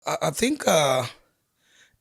I, I think uh,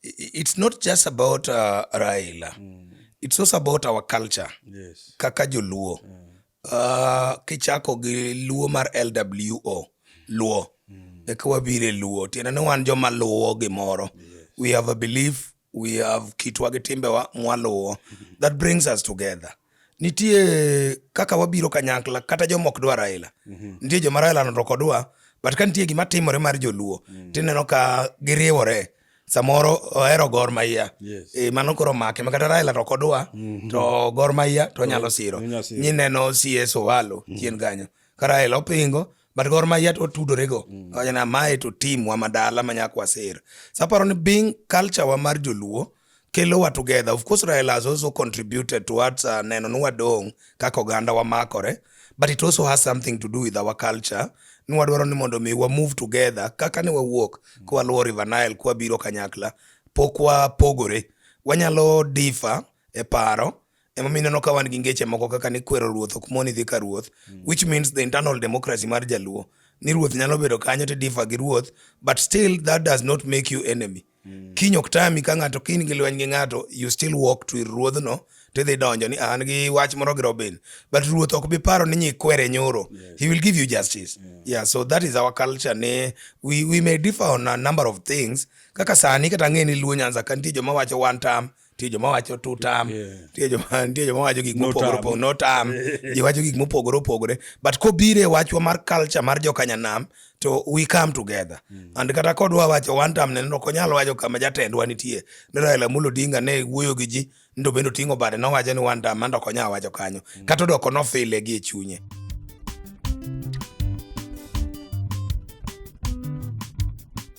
it's not just about uh, Raila. Mm. It's also about our culture. Yes. Kaka Joluo. Yeah. Mm. Uh, kichako gi Luo mar LWO. Luo. Mm. Eka wabire Luo. Tiende ni wan joma luwo gimoro. Yes. We have a belief we have kitwa gi timbewa mwaluwo that brings us together nitie kaka wabiro kanyakla kata joma ok dwa Raila mhm. nitie joma Raila noto kodwa but ka nitie gima timore mar joluo mm. tineno ka giriwore samoro ohero Gor Mahia yes. E, mano koro make ma kata Raila to kodwa mm -hmm. to Gor Mahia to nyalo siro nyineno CS Owalo mm -hmm. chien kanyo ka Raila opingo but gor mahia to otudorego mm. wachana mae to team wa madala ma nyaka waser so aparo ni being culture wa mar joluo kelo wa together of course raila has also contributed towards uh, neno ni wadong' kaka oganda wamakore but it also has something to do with our culture ni wadwaro ni mondo mi wa move together kaka ni wawuok mm. kwa luwo river nile kwa biro kanyakla pok wapogore wanyalo difa e paro Emomiyo ineno ka wan gi ngeche moko kaka ni kwero ruoth ok moni dhi ka ruoth, mm. which means the internal democracy mar Jaluo. Ni ruoth nyalo bedo kanyo to differ gi ruoth, but still that does not make you enemy. Mm. Kiny ok tami ka ng'ato kiny gi lweny gi ng'ato, you still walk to ir ruodhno tidhi donjo ni an gi wach moro gi Robin but ruoth ok bi paro ni nyikwere nyoro yes. he will give you justice yeah. yeah so that is our culture ne we, we may differ on a number of things kaka sani kata ng'e ni luo nyanza ka nitie joma wacho one term nitie joma wacho tutam nitie joma nitie joma wacho gik mopogore opogore no tam ji wacho gik mopogore opogore but kobire wachwa mar culture mar jokanyanam to we come together mm. and kata kodwa wacho one time ne ok onyal wacho kama jatendwa nitie ne Raila Amolo Odinga ne wuoyo gi ji ndo bende oting'o bade nowacho ni one time mando ok onyal wacho kanyo mm. kata odoko nofile gi e chunye